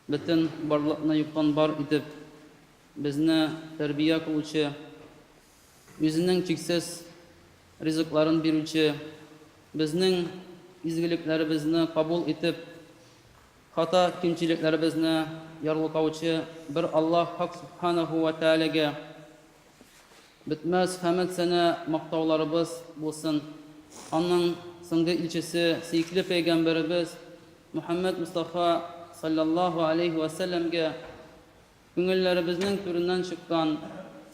Бөтен барлыкны юктан бар итеп, безне тәрбия кылучы, үзенең чиксез ризыкларын бирүче, безнең изгелекләребезне кабул итеп, хата кимчелекләребезне ярлыкаучы бер Аллаһ Хак Сүбхәнәһү вә Тәгаләгә бетмәс хәмед-сәна мактауларыбыз булсын, аның соңгы илчесе, сөекле пәйгамбәребез Мөхәммәд Мостафа салләллаһу аләйһи вә сәлләмгә күңелләребезнең түреннән чыккан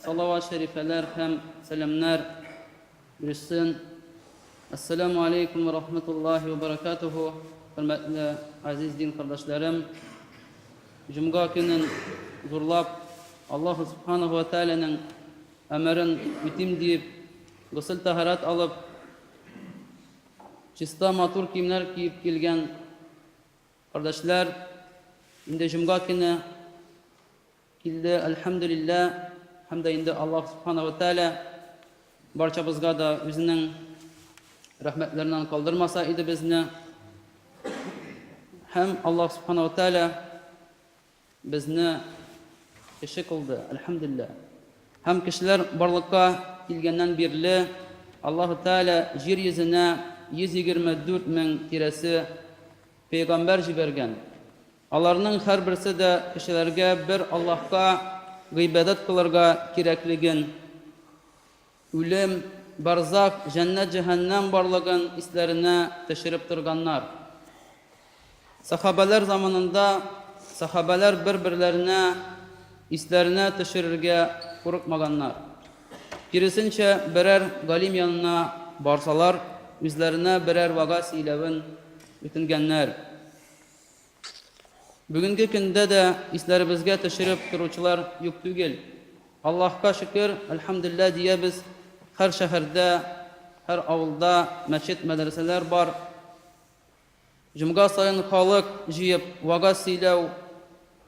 салават-шәрифәләр һәм сәламнәр ирешсен. Әссәләмү аләйкүм вә рахмәтуллаһи вә бәрәкәтүһү, хөрмәтле газиз дин кардәшләрем! Җомга көнен зурлап, Аллаһу Субханаһу вә Тәгаләнең әмерен үтим диеп, госел-тәһарәт алып, Чиста матур киемнәр киеп килгән кардәшләр инде җомга көне килде, әлхәмдүлиллә, һәм дә инде Аллаһ Субхана ва Тәгалә барчабызга да үзенең рәхмәтләреннән калдырмаса иде безне. Һәм Аллаһ Субхана ва Тәгалә Безне кеше кылды, әлхәмдүлилләһ. Һәм кешеләр барлыкка килгәннән бирле Аллаһу Тәгалә җир йөзенә 124 мең тирәсе пәйгамбәр җибәргән. Аларның һәрберсе дә кешеләргә бер Аллаһка гыйбадәт кылырга кирәклеген Үлем, барзах, җәннәт-җәһәннәм барлыгын исләренә төшереп торганнар. Сәхабәләр заманында сәхабәләр бер-берләренә исләренә төшерергә курыкмаганнар. Киресенчә, берәр галим янына барсалар, үзләренә берәр вәгазь сөйләвен үтенгәннәр. Бүгенге көндә дә исләребезгә төшереп торучылар юк түгел. Аллаһка шөкер, әлхәмдүлилләһ диябез, һәр шәһәрдә, һәр авылда мәчет-мәдрәсәләр бар. Җомга саен халык җыеп вагаз сөйләү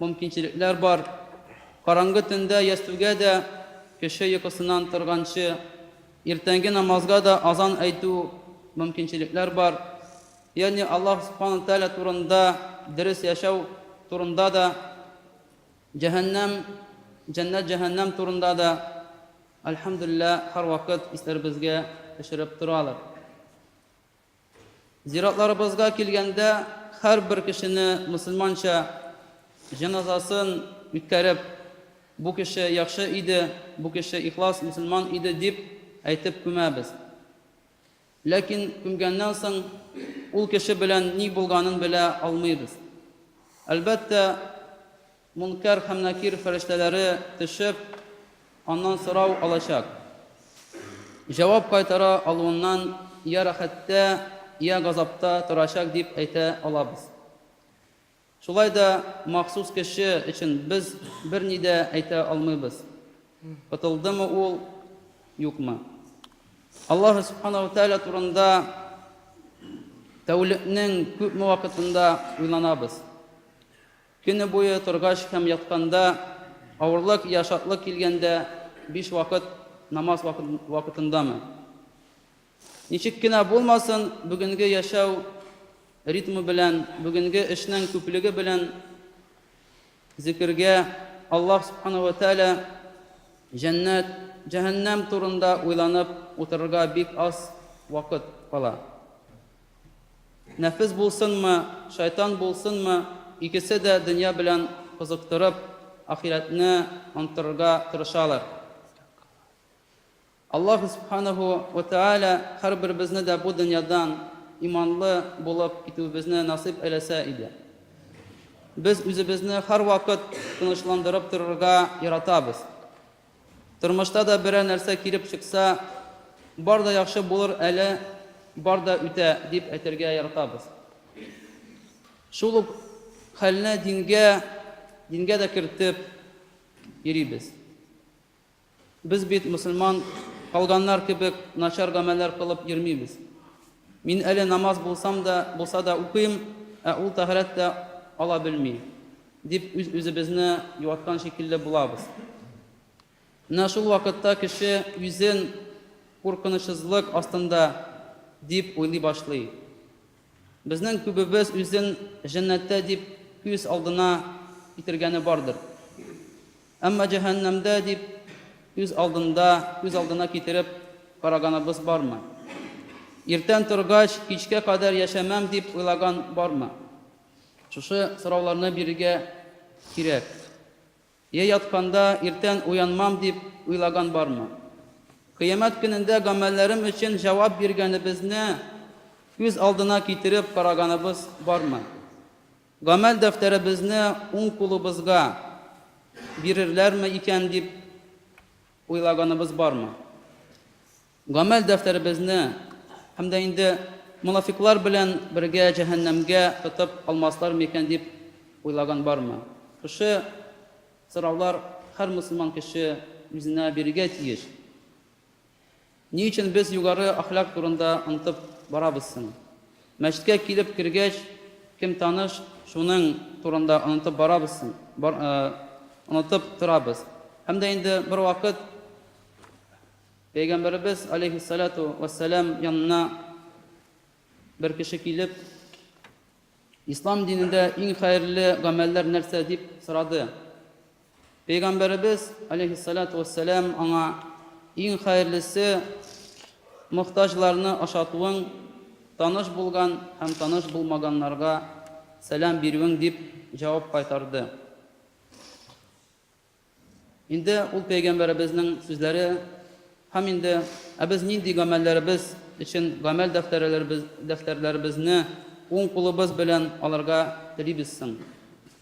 мөмкинчелекләр бар. Караңгы төндә ястүгә дә, кеше йокысыннан торганчы, иртәнге намазга да азан әйтү мөмкинчелекләр бар. Ягъни Аллаһ Субхана Тәгалә турында, дөрес яшәү турында да, җәһәннәм, җәннәт-җәһәннәм турында да, әлхәмдүлиллә, һәрвакыт исләребезгә төшереп торалар. Зиратларыбызга килгәндә, һәрбер кешене мөселманча җеназасын үткәреп, бу кеше яхшы иде, бу кеше ихлас мөселман иде дип әйтеп күмәбез. Ләкин күмгәннән соң ул кеше белән ни булганын белә алмыйбыз. Әлбәттә, Мөнкәр һәм Нәкир фәрештәләре төшеп, аннан сорау алачак. Җавап кайтара алуыннан йә рәхәттә, йә газапта торачак дип әйтә алабыз. Шулай да махсус кеше өчен без берни дә әйтә алмыйбыз. Котылдымы ул, юкмы. Аллаһы Субхана ва Тәгалә турында тәүлекнең күпме вакытында уйланабыз. Көне буе торгач һәм ятканда, авырлык йә шатлык килгәндә биш вакыт намаз вакытындамы? Ничек кенә булмасын, бүгенге яшәү ритмы белән, бүгенге эшнең күплеге белән зикергә Аллаһ Субхана ва Тәгалә җәннәт, җәһәннәм турында уйланып утырырга бик аз вакыт кала. Нәфес булсынмы, шайтан булсынмы, икесе дә дөнья белән кызыктырып, ахирәтне онтырырга тырышалар. Аллаһ Субханаһу ва Тәгалә һәрберебезне дә бу дөньядан иманлы булып китүебезне насыйп әйләсә иде. Без үзебезне һәрвакыт тынычландырып торырга яратабыз. Тормышта да берәр нәрсә килеп чыкса, бар да яхшы булыр әле, бар да үтә, дип әйтергә яратабыз. Шул ук хәлне дингә, дингә дә кертеп йөрибез. Без бит мөселман кауданнар кебек начар гамәлләр кылып йөрмибез. Мин әле намаз булсам да, булса да укыйм, ә ул тәһарәт тә ала белми, дип үз-үзебезне юаткан шикелле булабыз. Менә шул вакытта кеше үзен куркынычсызлык астында дип уйлый башлый. Безнең күбебез үзен җәннәттә дип күз алдына китергәне бардыр. Әмма җәһәннәмдә дип күз алдында, күз алдына китереп караганыбыз бармы? Иртән торгач, кичкә кадәр яшәмәм дип уйлаган бармы? Шушы сорауларны бирергә кирәк. Йә ятканда, иртән уянмам дип уйлаган бармы? Кыямәт көнендә гамәлләрем өчен җавап биргәнебезне күз алдына китереп караганыбыз бармы? Гамәл дәфтәребезне уң кулыбызга бирерләрме икән дип уйлаганыбыз бармы? Гамәл дәфтәребезне һәм дә инде монафикълар белән бергә җәһәннәмгә тотып алмаслар микән дип уйлаган бармы? Шушы сораулар һәр мөселман кеше үзенә бирергә тиеш. Ни өчен без югары әхлак турында онытып барабыз соң? Мәчеткә килеп кергәч, кем таныш, шуның турында онытып барабыз соң? Онытып торабыз. Һәм дә инде бервакыт Пәйгамбәребез, алейһиссалату уәссәлам, янына бер кеше килеп, Ислам динендә иң хәерле гамәлләр нәрсә? дип сорады. Пәйгамбәребез, аләйһиссалату вәссәлам, аңа, Иң хәерлесе, мохтаҗларны ашатуың, таныш булган һәм таныш булмаганнарга сәлам бирүең дип җавап кайтарды. Инде ул пәйгамбәребезнең сүзләре һәм инде Ә без нинди гамәлләребез өчен гамәл дәфтәрләребезне уң кулыбыз белән алырга телибез соң?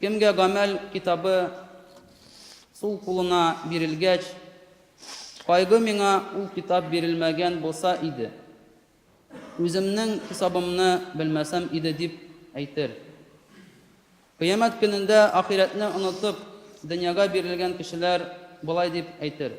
Кемгә гамәл китабы сул кулына бирелгәч, кайгы миңа ул китап бирелмәгән булса иде, үземнең хисабымны белмәсәм иде дип әйтер. Кыямәт көнендә ахирәтне онытып, дөньяга бирелгән кешеләр болай дип әйтер,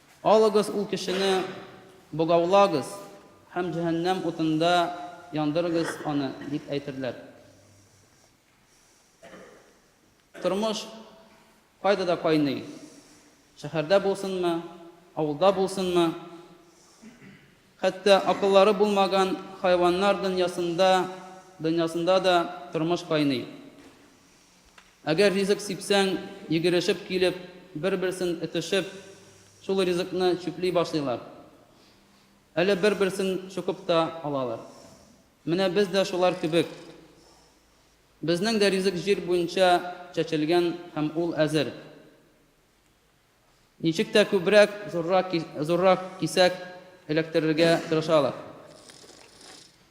Алыгыз ул кешене, богаулагыз һәм җәһәннәм утында яндырыгыз аны, дип әйтерләр. Тормыш кайда да кайный, шәһәрдә булсынмы, авылда булсынмы, хәтта акыллары булмаган хайваннар дөньясында дөньясында да тормыш кайный. Әгәр ризык сипсәң, йөгерешеп килеп, бер-берсен этешеп, шул ризыкны чүпли башлыйлар. Әле бер-берсен чукып та алалар. Менә без дә шулар кебек. Безнең дә ризык җир буенча чәчелгән һәм ул әзер. Ничек тә күбрәк, зуррак, зуррак кисәк эләктерергә тырышалар.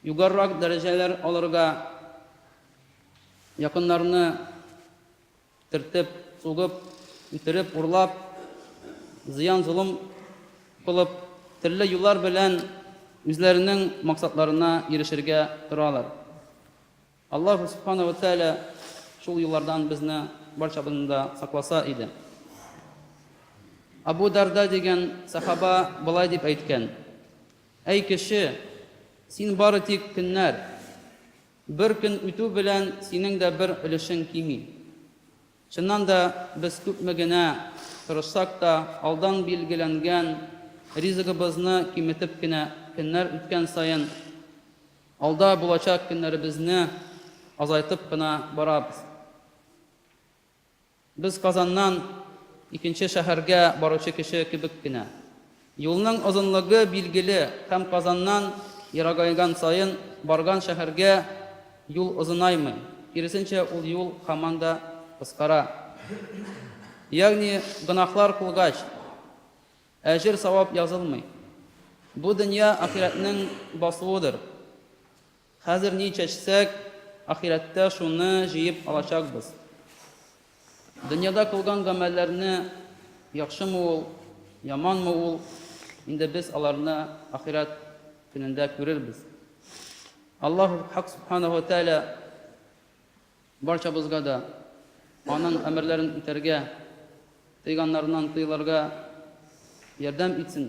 Югарырак дәрәҗәләр алырга, якыннарны төртеп, сугып, үтереп, урлап, зыян-золым кылып, төрле юллар белән үзләренең максатларына ирешергә торалар. Аллаһу Субхана вә Тәгалә шул юллардан безне барчабызны да сакласа иде. Абу Дарда дигән сахаба болай дип әйткән, Әй кеше, син бары тик көннәр, бер көн үтү белән синең дә бер өлешең кими. Чыннан да, без күпме генә тырышсак та, алдан билгеләнгән ризыгыбызны киметеп кенә, көннәр үткән саен, Алда булачак көннәребезне азайтып кына барабыз. Без Казаннан икенче шәһәргә баручы кеше кебек кенә. Юлның озынлыгы билгеле һәм Казаннан ерагайган саен барган шәһәргә юл озынаймый, киресенчә ул юл һаман да кыскара. Ягъни гөнаһлар кылгач. Әҗер-савап язылмый. Бу дөнья ахирәтнең басуыдыр. Хәзер ни чәчсәк, ахирәттә шуны җыеп алачакбыз. Дөньяда кылган гамәлләрне, яхшымы ул, яманмы ул, инде без аларны ахирәт көнендә күрербез. Аллаһу Хак Сүбхәнәһү вә Тәгалә Барчабызга да Аның әмерләрен үтәргә, тыйганнарыннан тыелырга ярдәм итсен.